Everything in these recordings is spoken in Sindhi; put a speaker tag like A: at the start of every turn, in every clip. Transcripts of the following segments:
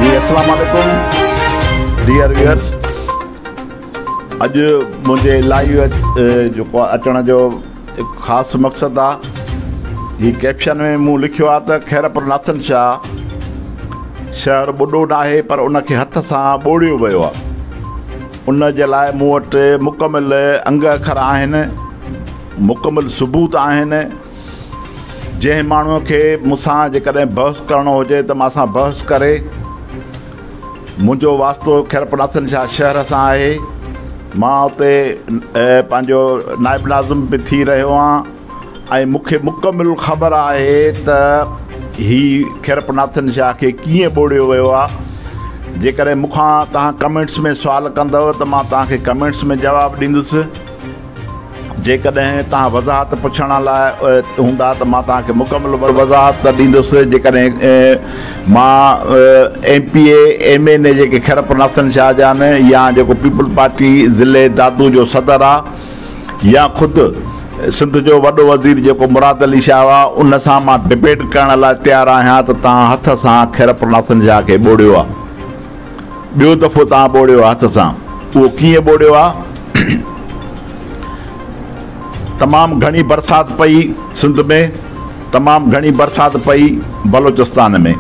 A: جي اسلام عليڪم ڊيئر ويئرس اڄ منهنجي لائيو جيڪو اچڻ جو خاص مقصد آ هي ڪيپشن ۾ مون لکيو آ ته خيرپور ناٿن شاهه شهر ٻڏو ناهي پر ان کي هٿ سان ٻوڙيو ويو آ ان جي لاء مون وٽ مڪمل انگ اکر آهن مڪمل ثبوت آهن جنهن ماڻهوء کي مون سان جيڪڏهن بحث ڪرڻو هجي ته مان سان بحث ڪري. منهنجو واسطو خيرپناٿن شاهه شهر سان آهي. مان اتي پنهنجو نائب ناظم به ٿي رهيو آهيان ۽ مون کي مڪمل خبر آهي ته هي خيرپناٿن شاهه کي ڪيئن ٻوڙيو ويو آهي. جيڪڏهن مون کان توهان ڪمينٽس ۾ سوال ڪندؤ ته مان توهان کي ڪمينٽس ۾ جواب ڏيندس. جيڪڏهن توهان وضاحت پڇڻ لاء هوندا ته مان توهان کي مڪمل وضاحت ڏيندس. جيڪڏهن مان M P A, M N A جيڪي خيرپور ناصرين شاهه جا آهن يا جيڪو پيپلز پارٽي ضلعي دادو جو صدر آ يا خود سنڌ جو وڏو وزير جيڪو مراد علي شاهه هئا ان سان مان ڊبيٽ ڪرڻ لاء تيار آهيان ته توهان هٿ سان خيرپور ناصرين شاهه کي ٻوڙيو آ. ٻيو تحفو توهان ٻوڙيو آ هٿ سان، اهو ڪيئن ٻوڙيو آ؟ تمام گهڻي برسات پئي سنڌ ۾، تمام گهڻي برسات پئي بلوچستان ۾.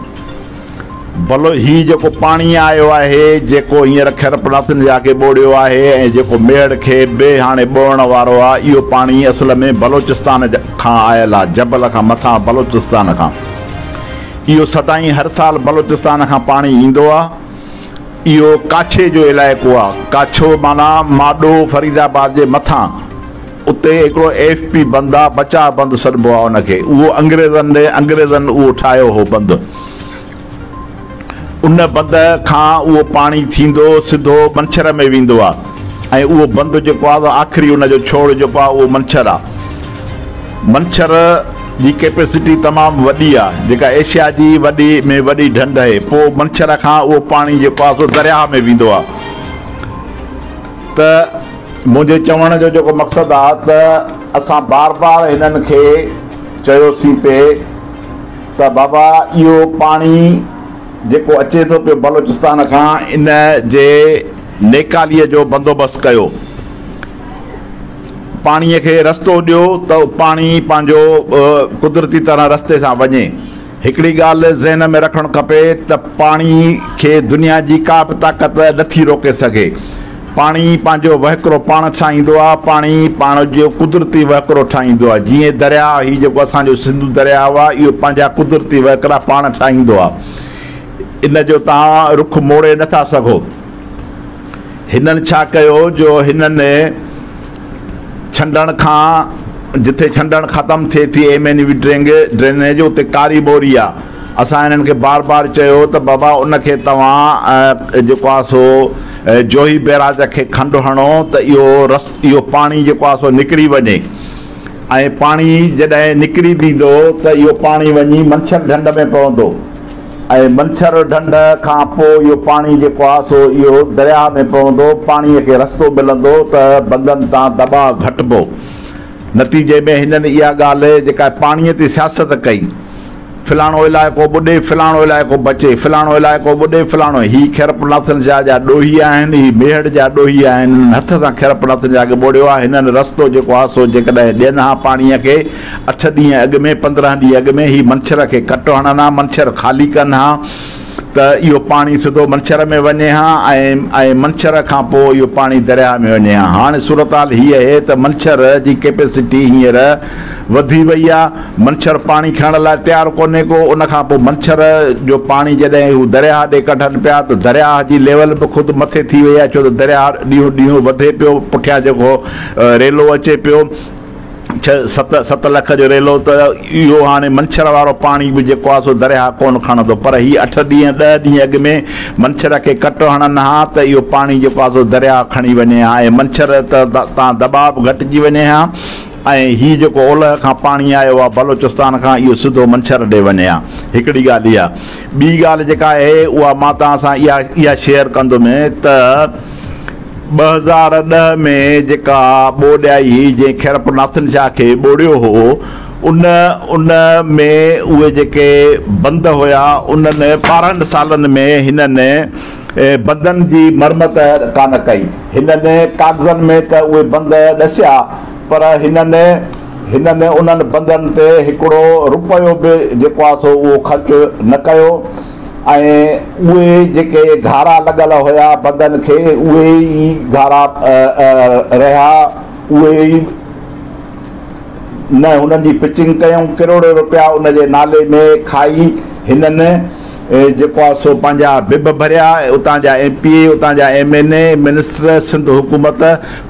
A: بلو هي جيڪو پاڻي آيو آهي، جيڪو هينئر خيرپناٿن جي آگي ٻوڙيو آهي ۽ جيڪو ميڙ کي به هاڻي ٻوڙڻ وارو آ، اهو پاڻي اصل ۾ بلوچستان کان آيل آ، جبل کان مٿان بلوچستان کان. اهو سدائين هر سال بلوچستان کان پاڻي ايندو آ. اهو ڪاڇي جو علائقو آ. ڪاڇو معنيٰ ماڏو فريد آباد جي مٿان. اتي هڪڙو ايف پي بند آ، بچاء بند سڏبو آ ان کي. اهو انگريزن ڏي انگريزن اهو ٺاهيو هو بند. ان بند کان اهو پاڻي ٿيندو سڌو منڇر ۾ ويندو آ ۽ اهو بند جيڪو آ آخري ان جو ڇوڙ جيڪو آ اهو منڇر آ. منڇر. جي ڪيپيسٽي تمام وڏي آ جيڪا ايشيا جي وڏي ۾ وڏي ڍنڍ اھي پو منڇر کان اھو پاڻي جيڪو آ سو درياھ ۾ ويندو آ ته منھنجي چوڻ جو جيڪو مقصد آ ته اسان بار بار ھنن کي چيو سين پي ته بابا اھو پاڻي جيڪو اچي ٿو پيو بلوچستان کان ان جي نيڪالي جو بندوبست ڪيو پاڻيء کي رستو ڏيو ته پاڻي پنهنجو قدرتي طرح رستي سان وڃي. هڪڙي ڳالهه ذهن ۾ رکڻ کپي ته پاڻي کي دنيا جي ڪا به طاقت نٿي روڪي سگهي. پاڻي پنهنجو وهڪرو پاڻ ٺاهيندو آهي. پاڻي پاڻ جو قدرتي وهڪرو ٺاهيندو آهي. جيئن درياء، هي جيڪو اسان جو سنڌو درياء آهي، اهو پنهنجا قدرتي وهڪرا پاڻ ٺاهيندو آهي. ان جو توهان رخ موڙي نٿا سگهو. هنن ڇا ڪيو جو هنن ڇنڊڻ کان جتي ڇنڊڻ ختم ٿئي ٿي M N V draining drainage اتي ڪاري ٻوري آ اسان هنن کي بار بار چيو ته بابا ان کي توهان جيڪو آ سو جوهي بيراج کي کنڊ هڻو ته اهو رس اهو پاڻي جيڪو آ سو نڪري وڃي ۽ پاڻي جڏهن نڪري بيندو ته اهو پاڻي وڃي منڇر ڍنڍ ۾ پوندو ۽ منڇر ڍنڍ کان پوء اهو پاڻي جيڪو آهي سو اهو درياهه ۾ پوندو، پاڻيء کي رستو ملندو ته بندن تان دٻاء گهٽبو. نتيجي ۾ هنن اها ڳالهه جيڪا پاڻيء تي سياست ڪئي، فلاڻو علائقو ٻڏي، فلاڻو علائقو بچي، فلاڻو علائقو ٻڏي، فلاڻو، هي خيرپورناٿن شاهه جا ڏوهي آهن، هي ميهڙ جا ڏوهي آهن، هنن هٿ سان خيرپورناٿن شاهه کي ٻوڙيو آهي، هنن رستو جيڪو آهي سو جيڪڏهن ڏين ها پاڻيء کي، اٺ ڏينهن اڳ ۾ پندرهن ڏينهن اڳ ۾ هي منڇر کي ڪٽ هڻن ها منڇر خالي ڪن ها ته اهو پاڻي سڌو منڇر ۾ وڃي ها ۽ منڇر کان پوء اهو پاڻي درياهه ۾ وڃي ها هاڻي صورتحال هي اهي ته منڇر جي ڪيپيسٽي هينئر وڌي وئي آ منڇر پاڻي کڻڻ لاء تيار ڪونهي ڪو ان کان پوء منڇر جو پاڻي جڏهن هو درياهه ڏي ڪڍن پيا ته درياهه جي ليول به خود مٿي ٿي وئي آ ڇو ته درياهه ڏينهون ڏينهون وڌي پيو پٺيان جيڪو ريلو اچي پيو ڇهه ست ست لک جو ريلو ته اهو هاڻي منڇر وارو پاڻي به جيڪو آهي سو درياهه ڪونه کڻندو پر هي اٺ ڏينهن ڏهه ڏينهن اڳ ۾ منڇر کي ڪٽ هڻن ها ته اهو پاڻي جيڪو آهي سو درياهه کڻي وڃي ها ۽ منڇر تان دٻاء به گهٽجي وڃي ها ۽ هي جيڪو اولهه کان پاڻي آيو آهي بلوچستان کان اهو سڌو منڇر ڏي وڃي ها هڪڙي ڳالهه اها ٻي ڳالهه جيڪا آهي اها مان توهان سان اها اها شيئر ڪندم ته ٻه هزار ڏهه ۾ جيڪا ٻوڏ آئي هئي جنهن کيرپ ناٿن شاهه کي ٻوڙيو هو ان ان ۾ اهي جيڪي بند هيا انهن ٻارهن سالن ۾ هنن بندن جي مرمت ڪانه ڪئي هنن ڪاغذن ۾ ته اهي بند ڏسيا پر هنن هنن انهن بندن تي هڪڙو روپيو به جيڪو آهي سو اهو خرچ نه ڪيو ۽ اهي جيڪي گهارا لڳل هيا بدن کي اهي ئي گهارا رهيا اهي ئي نه هنن جي پچنگ ڪيون ڪروڙين روپيا ان جي نالي ۾ کائي هنن جيڪو آهي سو پنهنجا بب ڀريا اتان جا ايم پي اي اتان جا M N A minister Sindh حڪومت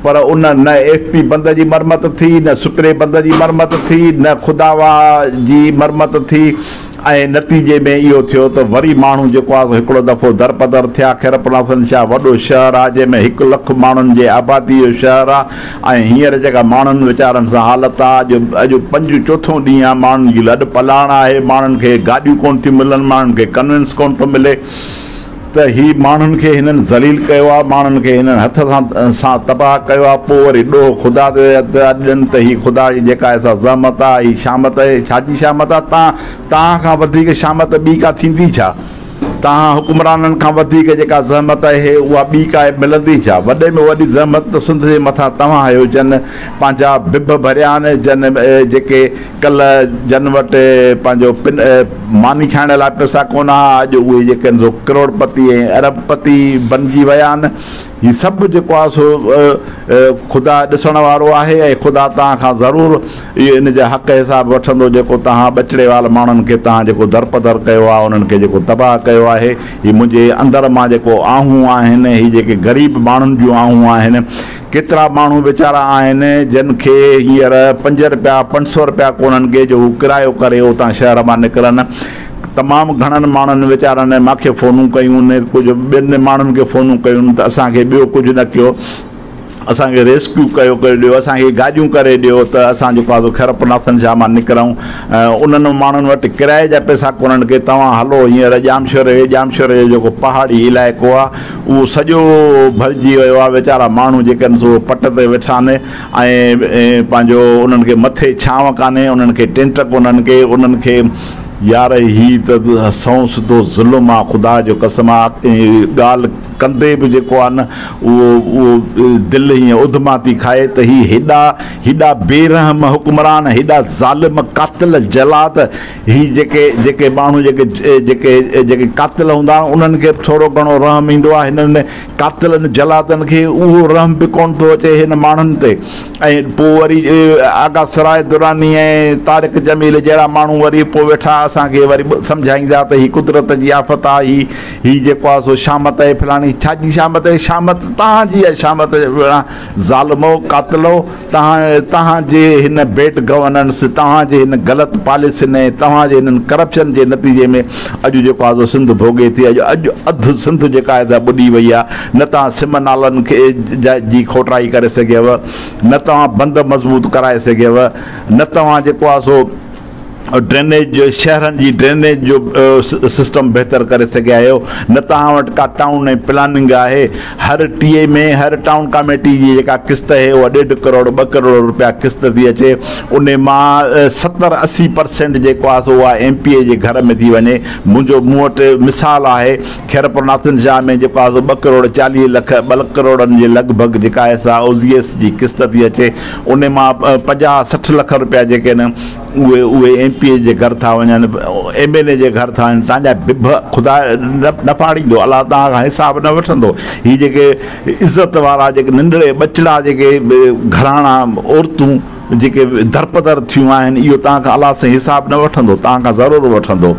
A: پر ان نه ايف پي بند جي مرمت ٿي نه سپري بند جي مرمت ٿي نه خداوا جي مرمت ٿي ۽ نتيجي ۾ اهو ٿيو ته وري ماڻهو جيڪو آهي سو هڪڙو دفعو درپدر ٿيا. خيرپورحسن شاهه وڏو شهر آهي جنهن ۾ هڪ لک ماڻهن جي آبادي جو شهر آهي ۽ هينئر جيڪا ماڻهن ويچارن سان حالت آهي اڄ اڄ پنجون چوٿون ڏينهن آهي ماڻهن جي لڏ پلاڻ آهي ماڻهن کي گاڏيون ڪونه ٿيون ملن ماڻهن کي ڪنوينس ڪونه ٿو ملي ته هي ماڻهن کي هنن ذليل ڪيو آهي، ماڻهن کي هنن هٿ سان تباهه ڪيو آهي، پوء وري ڏوهه خدا تي اڏجن ته هي خدا جي جيڪا ايسا زحمت آهي، هي شامت آهي، ڇا جي شامت آهي؟ تان توهان کان وڌيڪ شامت ٻي ڪا ٿيندي ڇا؟ توهان حڪمرانن کان وڌيڪ جيڪا زحمت آهي، اها ٻي ڪا ملندي ڇا؟ وڏي ۾ وڏي زحمت ته سنڌ جي مٿان توهان آهيو، جن پنهنجا ڀڀ ڀريا آهن، جن جيڪي ڪلهه جن وٽ پنهنجو پن ماني کائڻ لاء پئسا ڪونه ها، اڄ اهي جيڪي آهن سو ڪروڙپتي ۽ ارب پتي بنجي ويا آهن. هي سڀ جيڪو آهي سو خدا ڏسڻ وارو آهي ۽ خدا توهان کان ضرور ان جا حق حساب وٺندو جيڪو توهان ٻچڙي وال ماڻهن کي توهان جيڪو درپدر ڪيو آهي انهن کي جيڪو تباهه ڪيو آهي. هي منهنجي اندر مان جيڪو آهون آهن، هي جيڪي غريب ماڻهن جون آهون آهن. ڪيترا ماڻهو ويچارا آهن جن کي هينئر پنج رپيا پنج سؤ رپيا ڪونهن ڪي جو هو ڪرايو ڪري اتان شهر مان نڪرن. تمام گهڻن ماڻهن ويچارن مان کي فونون ڪيون ڪجهه ٻين ماڻهن کي فونون ڪيون ته اسان کي ٻيو ڪجهه نه ڪيو اسان کي ريسڪيو ڪيو ڪري ڏيو اسان کي گاڏيون ڪري ڏيو ته اسان جيڪو آهي سو خرپ ناسن شاهه مان نڪرون ۽ انهن ماڻهن وٽ ڪرايي جا پئسا ڪونهن ڪي توهان هلو هينئر ڄامشوري ڄامشوري جو جيڪو پهاڙي علائقو آهي اهو سڄو ڀرجي ويو آهي، ويچارا ماڻهو جيڪي آهن سو پٽ تي ويٺا آهن ۽ پنهنجو انهن کي مٿي ڇانو ڪانهي، انهن کي ٽينٽ ڪونهن ڪي انهن کي. يار هي ته سئون سڌو ظلم آ خدا جو قسم آ ڳالهه ڪندي به جيڪو آ نه اهو اهو دل هيئن اڌما ٿي کائي ته هي هيڏا هيڏا بي رحم حڪمران هيڏا ظالم قاتل جلاد هي جيڪي جيڪي ماڻهو جيڪي جيڪي جيڪي قاتل هوندا آهن انهن کي به ٿورو گهڻو رحم ايندو آهي هنن قاتلن جلادن کي اهو رحم به ڪونه ٿو اچي هن ماڻهن تي ۽ پوء وري آغا سراج دراني ۽ طارق جميل جهڙا ماڻهو وري پوء ويٺا اسان کي وري سمجهائيندا ته هي قدرت جي آفت آهي هي هي جيڪو آهي سو شامت آهي فلاڻي ڇا جي شامت آهي شامت توهان جي آهي شامت ظالمو قاتلو توهان جي هن بيڊ گورننس، توهان جي هن غلط پاليسين ۽ توهان جي هنن ڪرپشن جي نتيجي ۾ اڄ جيڪو آزو سنڌ ڀوڳي ٿي. اڄ اڌ سنڌ جيڪا آهي سا ٻڏي وئي آهي. نه توهان سم نالن کي جي کوٽرائي ڪري سگهيو نه توهان بند مضبوط ڪرائي سگهيو نه توهان جيڪو آهي سو ڊرينيج شهرن جي ڊرينيج جو سسٽم بهتر ڪري سگهي آهيو نه توهان وٽ ڪا ٽائون ۽ پلاننگ آهي هر ٽي اي ۾ هر ٽائون ڪاميٽي جي جيڪا قسط اهي اها ڏيڍ ڪروڙ ٻه ڪروڙ روپيا قسط ٿي اچي ان مان ستر اسي پرسينٽ جيڪو آهي سو اها ايم پي اي جي گهر ۾ ٿي وڃي منهنجو مون وٽ مثال آهي خيرپور ناٿن شاهه ۾ جيڪو آهي سو ٻه ڪروڙ چاليهه لک ٻه ڪروڙن جي لڳ ڀڳ جيڪا آهي سا او زي ايس جي قسط ٿي اچي انهي مان پنجاهه سٺ لک روپيا جيڪي آهن اهي اهي ايم پي اي جي گهر ٿا وڃن ايم اين اي جي گهر ٿا وڃن تنهنجا بڀ خدا نه ڦاڙيندو الله توهان کان حساب نه وٺندو هي جيڪي عزت وارا جيڪي ننڍڙي ٻچڙا جيڪي گهراڻا عورتون جيڪي درپدر ٿيون آهن اهو توهان کان الله سائين حساب نه وٺندو توهان کان ضرور وٺندو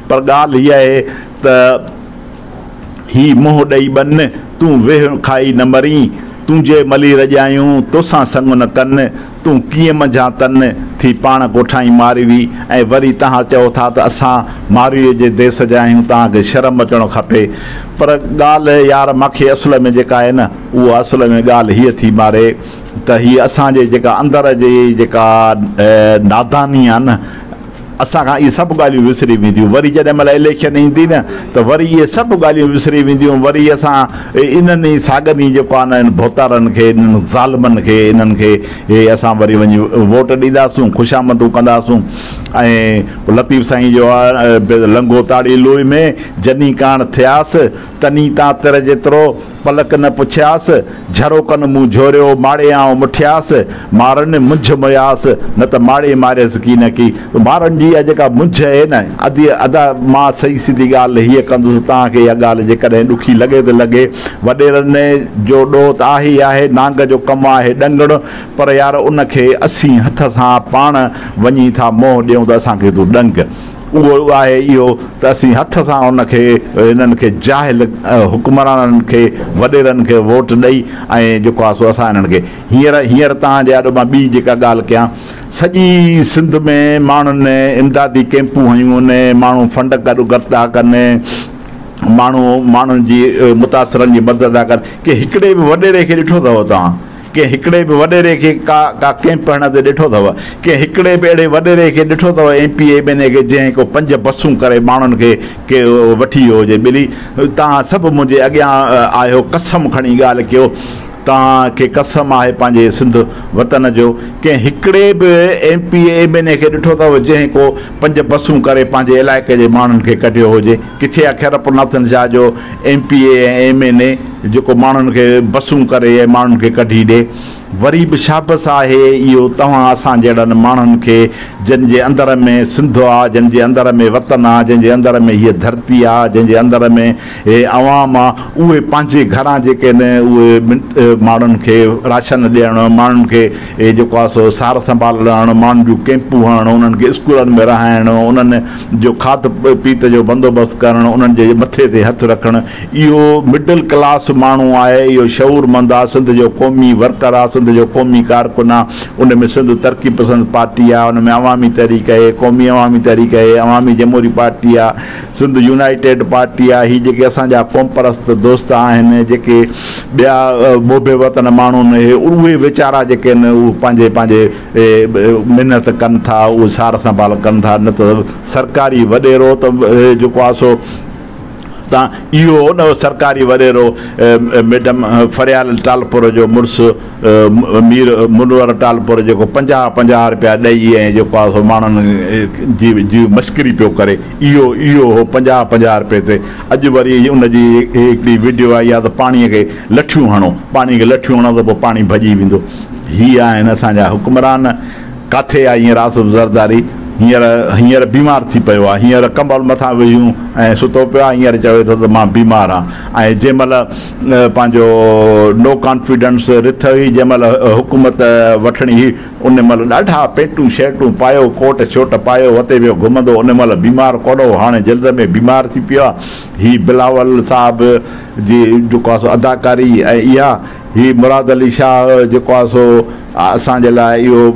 A: پر ڳالهه هي آهي ته هي منهن ڏئي ٻن، تون ويهه کائي نه مرين، تنهنجي ملي رڄايون، توسان سڱ نه ڪن، تون ڪيئن منجهان تن ٿي پاڻ ڪوٺائين ماروي ۽ وري تهان چئو ٿا ته اسان مارويء جي ديس جا آهيون، توهان کي شرم اچڻو کپي. پر ڳالهه يار مان کي اصل ۾ جيڪا آهي نه، اها اصل ۾ ڳالهه هيء ٿي ماري ته هيء اسان جي جيڪا اندر جي جيڪا ناداني آهي نه، اسان کان اهي سڀ ڳالهيون وسري وينديون وري جڏهن مهل اليڪشن ايندي نه ته وري اهي سڀ ڳالهيون وسري وينديون وري اسان انهن ئي ساڳن ئي جيڪو آهي نه انهن ڀوتارن کي انهن ظالمن کي انهن کي اهي اسان وري وڃي ووٽ ڏينداسون خوشامندون ڪنداسون ۽ لطيف سائين جو آهي لنگهو تاڙي لوئي ۾ جني ڪاڻ ٿياس تنين تان تر جيترو پلڪ نه پڇياس، جھروڪن مون جھوريو ماڙي آئون مٺياس، مارن منجھ مياس نه ته ماڙي ماريس ڪي نه ڪي. مارن جي اھا جيڪا منجھ اھي نه ادي ادا مان سھي سڌي ڳالھ ھيء ڪندس توھان کي اھا ڳالھ جيڪڏھن ڏکي لڳي ته لڳي وڏيرن جو ڏوھ ته آھي ئي آھي نانگ جو ڪم آھي ڏنگڻ پر يار ان کي اسين ھٿ سان پاڻ وڃي ٿا منهن ڏيون ته اسان کي تون ڏنگ اهو آهي اهو ته اسين هٿ سان ان کي انهن کي جاهل حڪمرانن کي وڏيرن کي ووٽ ڏئي ۽ جيڪو آهي سو اسان انهن کي هينئر هينئر توهان جي آڏو مان ٻي جيڪا ڳالهه ڪيان سڄي سنڌ ۾ ماڻهن امدادي ڪيمپون هنيون ماڻهو فنڊ گڏ گڏ ٿا ڪن ماڻهو ماڻهن جي متاثرن جي مدد ٿا ڪن ڪنهن هڪڙي به وڏيري کي ڏٺو اٿو توهان ڪنهن هڪڙي به وڏيري کي ڪا ڪا ڪئمپ هڻڻ تي ڏٺو اٿو؟ ڪنهن هڪڙي به اهڙي وڏيري کي ڏٺو اٿو M P M N A کي جنهن ڪو پنج بسون ڪري ماڻهن کي ڪي وٺي ويو هجي ٻلي توهان سڀ منهنجي اڳيان آهيو قسم کڻي ڳالهه ڪيو توهان کي قسم آهي پنهنجي سنڌ وطن جو ڪنهن هڪڙي به M P M N A کي ڏٺو اٿو جنهن ڪو پنج بسون ڪري پنهنجي علائقي جي ماڻهن کي ڪڍيو هجي. ڪٿي آ خيرپور ناٿن شاهه جو M P A ۽ M N A جيڪو ماڻهن کي بسون ڪري ۽ ماڻهن کي ڪڍي ڏي. وري به شابس آهي اهو توهان اسان جهڙن ماڻهن کي جن جي اندر ۾ سنڌ آ جن جي اندر ۾ وطن آ جن جي اندر ۾ هيء ڌرتي آ جن جي اندر ۾ هي عوام آ اهي پنهنجي گهران جيڪي نه اهي ماڻهن کي راشن ڏيڻ ماڻهن کي اهي جيڪو آهي سو سار سنڀال لهڻ، ماڻهن جون ڪئمپون هڻڻ، انهن کي اسڪولن ۾ رهائڻ، انهن جو کاڌ پيت جو بندوبست ڪرڻ، انهن جي مٿي تي هٿ رکڻ، اهو مڊل ڪلاس ماڻهو آهي، اهو شعور مند آهي، سنڌ جو قومي ورڪر آهي، سنڌ جو قومي ڪارڪن آهي، ان ۾ سنڌ ترقي پسند پارٽي آهي، ان ۾ عوامي تحريڪ اهي، قومي عوامي تحريڪ اهي، عوامي جمهوري پارٽي آهي، سنڌ يونائيٽيڊ پارٽي آ هي جيڪي اسان جا قومپرست دوست آهن جيڪي ٻيا محب وطن ماڻهو نه هي اهي ويچارا جيڪي آهن اهي پنهنجي پنهنجي محنت ڪن ٿا اهي سار سنڀال ڪن ٿا نه ته سرڪاري وڏيرو ته جيڪو آ سو تان اهو نه سرڪاري وڏيرو ميڊم فريال ٽالپر جو مڙس مير منور ٽالپر جيڪو پنجاهه پنجاهه رپيا ڏئي ۽ جيڪو آ سو ماڻهن جي جي مشڪري پيو ڪري اهو اهو هو پنجاهه پنجاهه رپئي تي اڄ وري ان جي هڪڙي وڊيو آئي آ ته پاڻي کي لٺيون هڻو پاڻي کي لٺيون هڻو ته پوء پاڻي ڀڄي ويندو هي آهن اسان جا حڪمران ڪاٿي آ هينئر آصف زرداري هينئر هينئر بيمار ٿي پيو آ هينئر ڪمبل مٿان وجهيون ۽ ستو پيو آ هينئر چوي ٿو ته مان بيمار آ ۽ جنهن مهل پنهنجو نو ڪانفيڊنس رٿ هئي جنهن مهل حڪومت وٺڻي هئي ان مھل ڏاڍا پينٽون شرٽون پايو ڪوٽ شوٽ پايو وتي ويو گھمندو ان مھل بيمار ڪونه ھو ھاڻي جلد ۾ بيمار ٿي پيو آھي ھي بلاول صاحب جي جيڪو آھي سو اداڪاري ۽ اھا ھي مراد علي شاھ جيڪو آھي سو اسان جي لاء اھو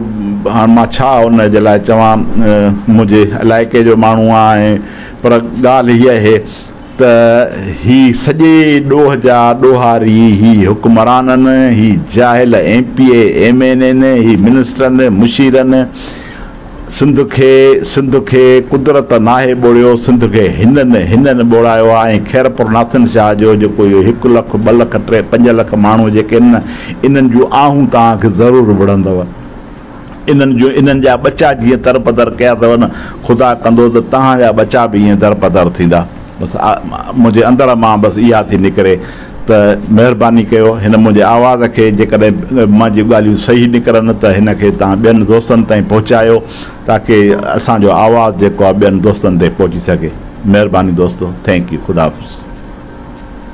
A: ھاڻ مان ڇا ان جي لاء چوان منھنجي علائقي جو ماڻھو آھي پر ڳالھ ھي اھي ته هي سڄي ڏوهه جا ڏوهاري، هي حڪمرانن، هي جاهل M P A, M N N, هي منسٽرن، مشيرن سنڌ کي، سنڌ کي قدرت ناهي ٻوڙيو، سنڌ کي هنن، هنن ٻوڙايو آهي ۽ خيرپور ناٿن شاهه جو جيڪو اهو هڪ لک، ٻه لک، ٽي، پنج لک ماڻهو جيڪي آهن نه، انهن جون آهون توهان کي ضرور وڙهندو. انهن جون انهن جا ٻچا جيئن درپدر ڪيا اٿو نه، خدا ڪندو ته توهان جا ٻچا به ائين درپدر ٿيندا. بس منهنجي اندر مان بس اها ٿي نڪري ته مهرباني ڪيو هن منهنجي آواز کي جيڪڏهن مان جي ڳالهيون صحيح نڪرن ته هن کي توهان ٻين دوستن تائين پهچايو تاڪي اسان جو آواز جيڪو آهي ٻين دوستن تائين پهچي سگهي. مهرباني دوستو. Thank you. خدا حافظ.